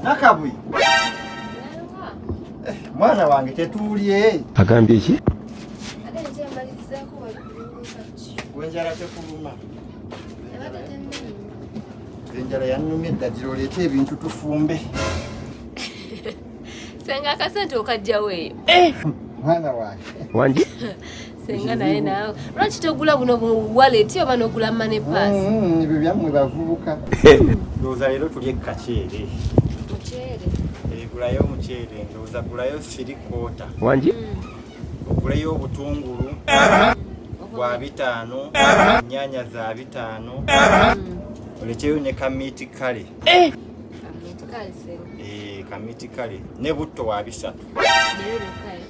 Nakabwi. Eh, mwana wange tetuulye. Agambye ki? Wenjala tekuluma. Enjala yannumye dda gira oleete ebintu tufumbe. Senga akasente okajjawo eyo. Eh! Mwana wange. Wangi? senga naye nawe lwaki togula buno bu wallet oba nogula money pass mm, mm, ebyo byammwe bavubuka ndowooza leero tuli ekkaceere muceere eh, gulayo omuceere ndowooza gulayo siri kota wangi mm. oguleyo obutungulu bwa bitaano ennyanya za bitaano olekeyo ne kamiti kale eh! kamiti kale eh, ne butto wa bisatu eh?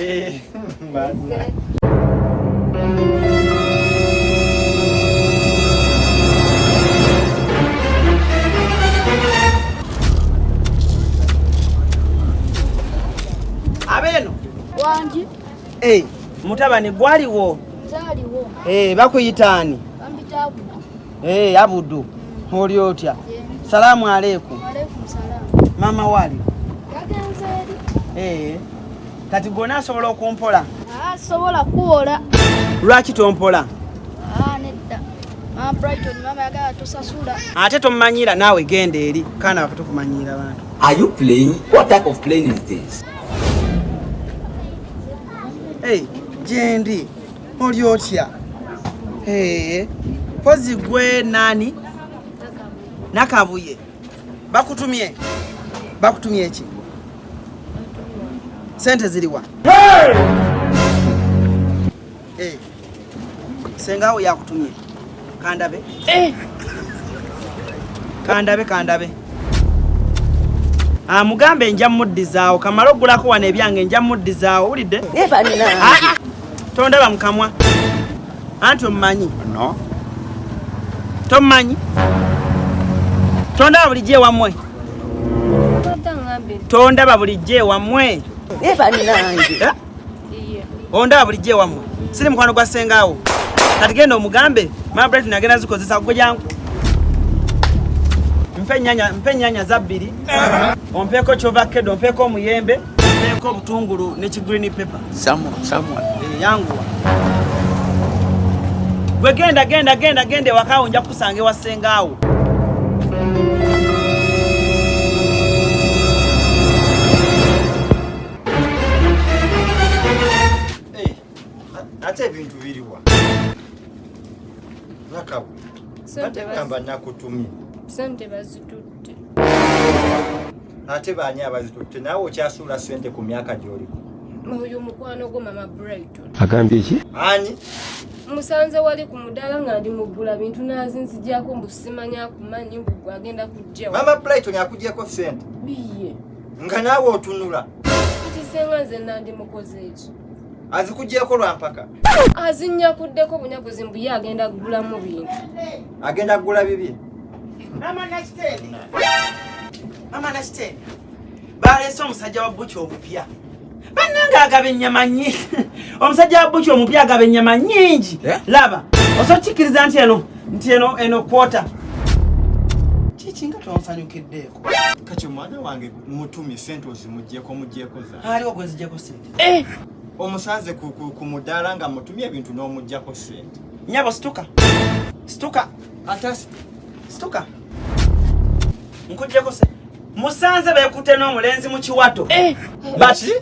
Eh, abeno wangi eh, mutabani gwaliwo Hey, eh, bakuyitaani Hey, eh, Abudu oli otya? Salamu aleikum. Mama wali hey. Eh, kati gona asobola okumpola? Ah, sobola kuwola. Lwaki tompola? Ah, nedda. Mama Brighton, mama yagala tusasula. Ate tomanyira naawe genda eri kana batukumanyira bantu. Are you playing? What type of playing is this? Hey, jendi. oli otya pozi gwe nani nakabuye bakutumye bakutumye eki sente ziriwa hey! hey! sengawo yakutumye Kandabe. Eh. Kandabe kandabe. Ah mugambe nja muddizaawo kamalo gulako wana ebyange nja muddizaawo ulide. Eh banina. Ah, ah. Tondaba mukamwa. Anti omanyi. No. Tomanyi. Tondaba bulijje wamwe. Tondaba bulijje wamwe. Eh banina. Eh? onda bulijjo ewammwe siri mukwano gwa sengaawo kati genda omugambe mabret nagenda zikozesa gwe jangu mpe enyanya zabbiri ompeeko kyovakkedo ompeeko omuyembe ompeeko obutungulu ne kigreen paper eh, yanguwa gwe genda genda genda genda ewakaawo nja kukusanga ewa sengaawo ate ebintu biriwa nakabu ategamba nakutumye sente bazitutte ate baani abazitutte naawe okyasuula sente ku myaka gyoliko oyo mukwano gwo mama brighton agambye ki ani musanze wali ku mudaala nga ndi mugula bintu nazinzijako mbu simanya kumanyi mbu agenda kujjawa mama brighton akugyeko sente biye nga naawe otunula kati senga nze nandi mukoze eki azikugyeko lwampaka azinyakuddeko bunyaguzi mbu ye agenda kugulamu bintu agenda kugula bibi baleese omusajja wa buki obupya banange agaba ennyama nyingi omusajja wa buki omupya agaba ennyama nyingi eh? laba osokikkiriza nti eno nti eno eno kwota kiki nga tonsanyukiddeyo kati omwana wange mutumi sente ozimujeko mujeko zaaliwo gwezijeko sente eh! omusanze ku mudaala nga mutumi ebintu n'omujjako sente nyabo situka situka atasi situka nkujjeko sente musanze bekute n'omulenzi mu kiwato eh! bati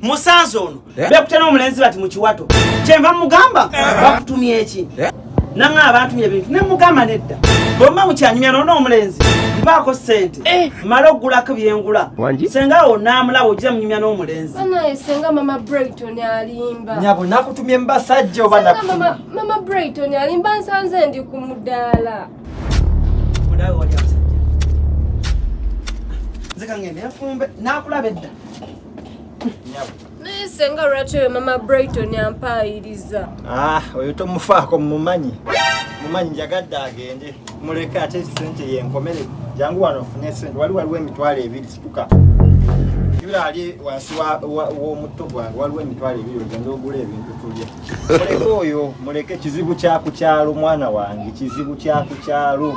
musanze ono eh? bekutte n'omulenzi bati mu kiwato kyenva mugamba eh? bakutumye eki eh? nanga abantumye ebintu ne mugamba nedda bwemba mukyanyumya nona omulenzi mpaako ssente mala okugulako byengula senga awo namulaba ogira munyumya n'omulenzi nyabo nakutumye mubasajja oba mama brighton alimba nsanze ndi ku mudaala nze kangende yafumbe nakulaba edda naye senga lwaki oyo mama brighton ampaayiriza ah, oyo tomufaako mumanyi mumanyi njagadde agende muleke ate sente yenkomere jangu wano ofune sente wali waliwo emitwalo ebiri situka yula ali wansi w'omutto gwange waliwo emitwalo ebiri ogenda ogula ebintu tulye muleke oyo muleke kizibu kyakukyalo mwana wange kizibu kyakukyalo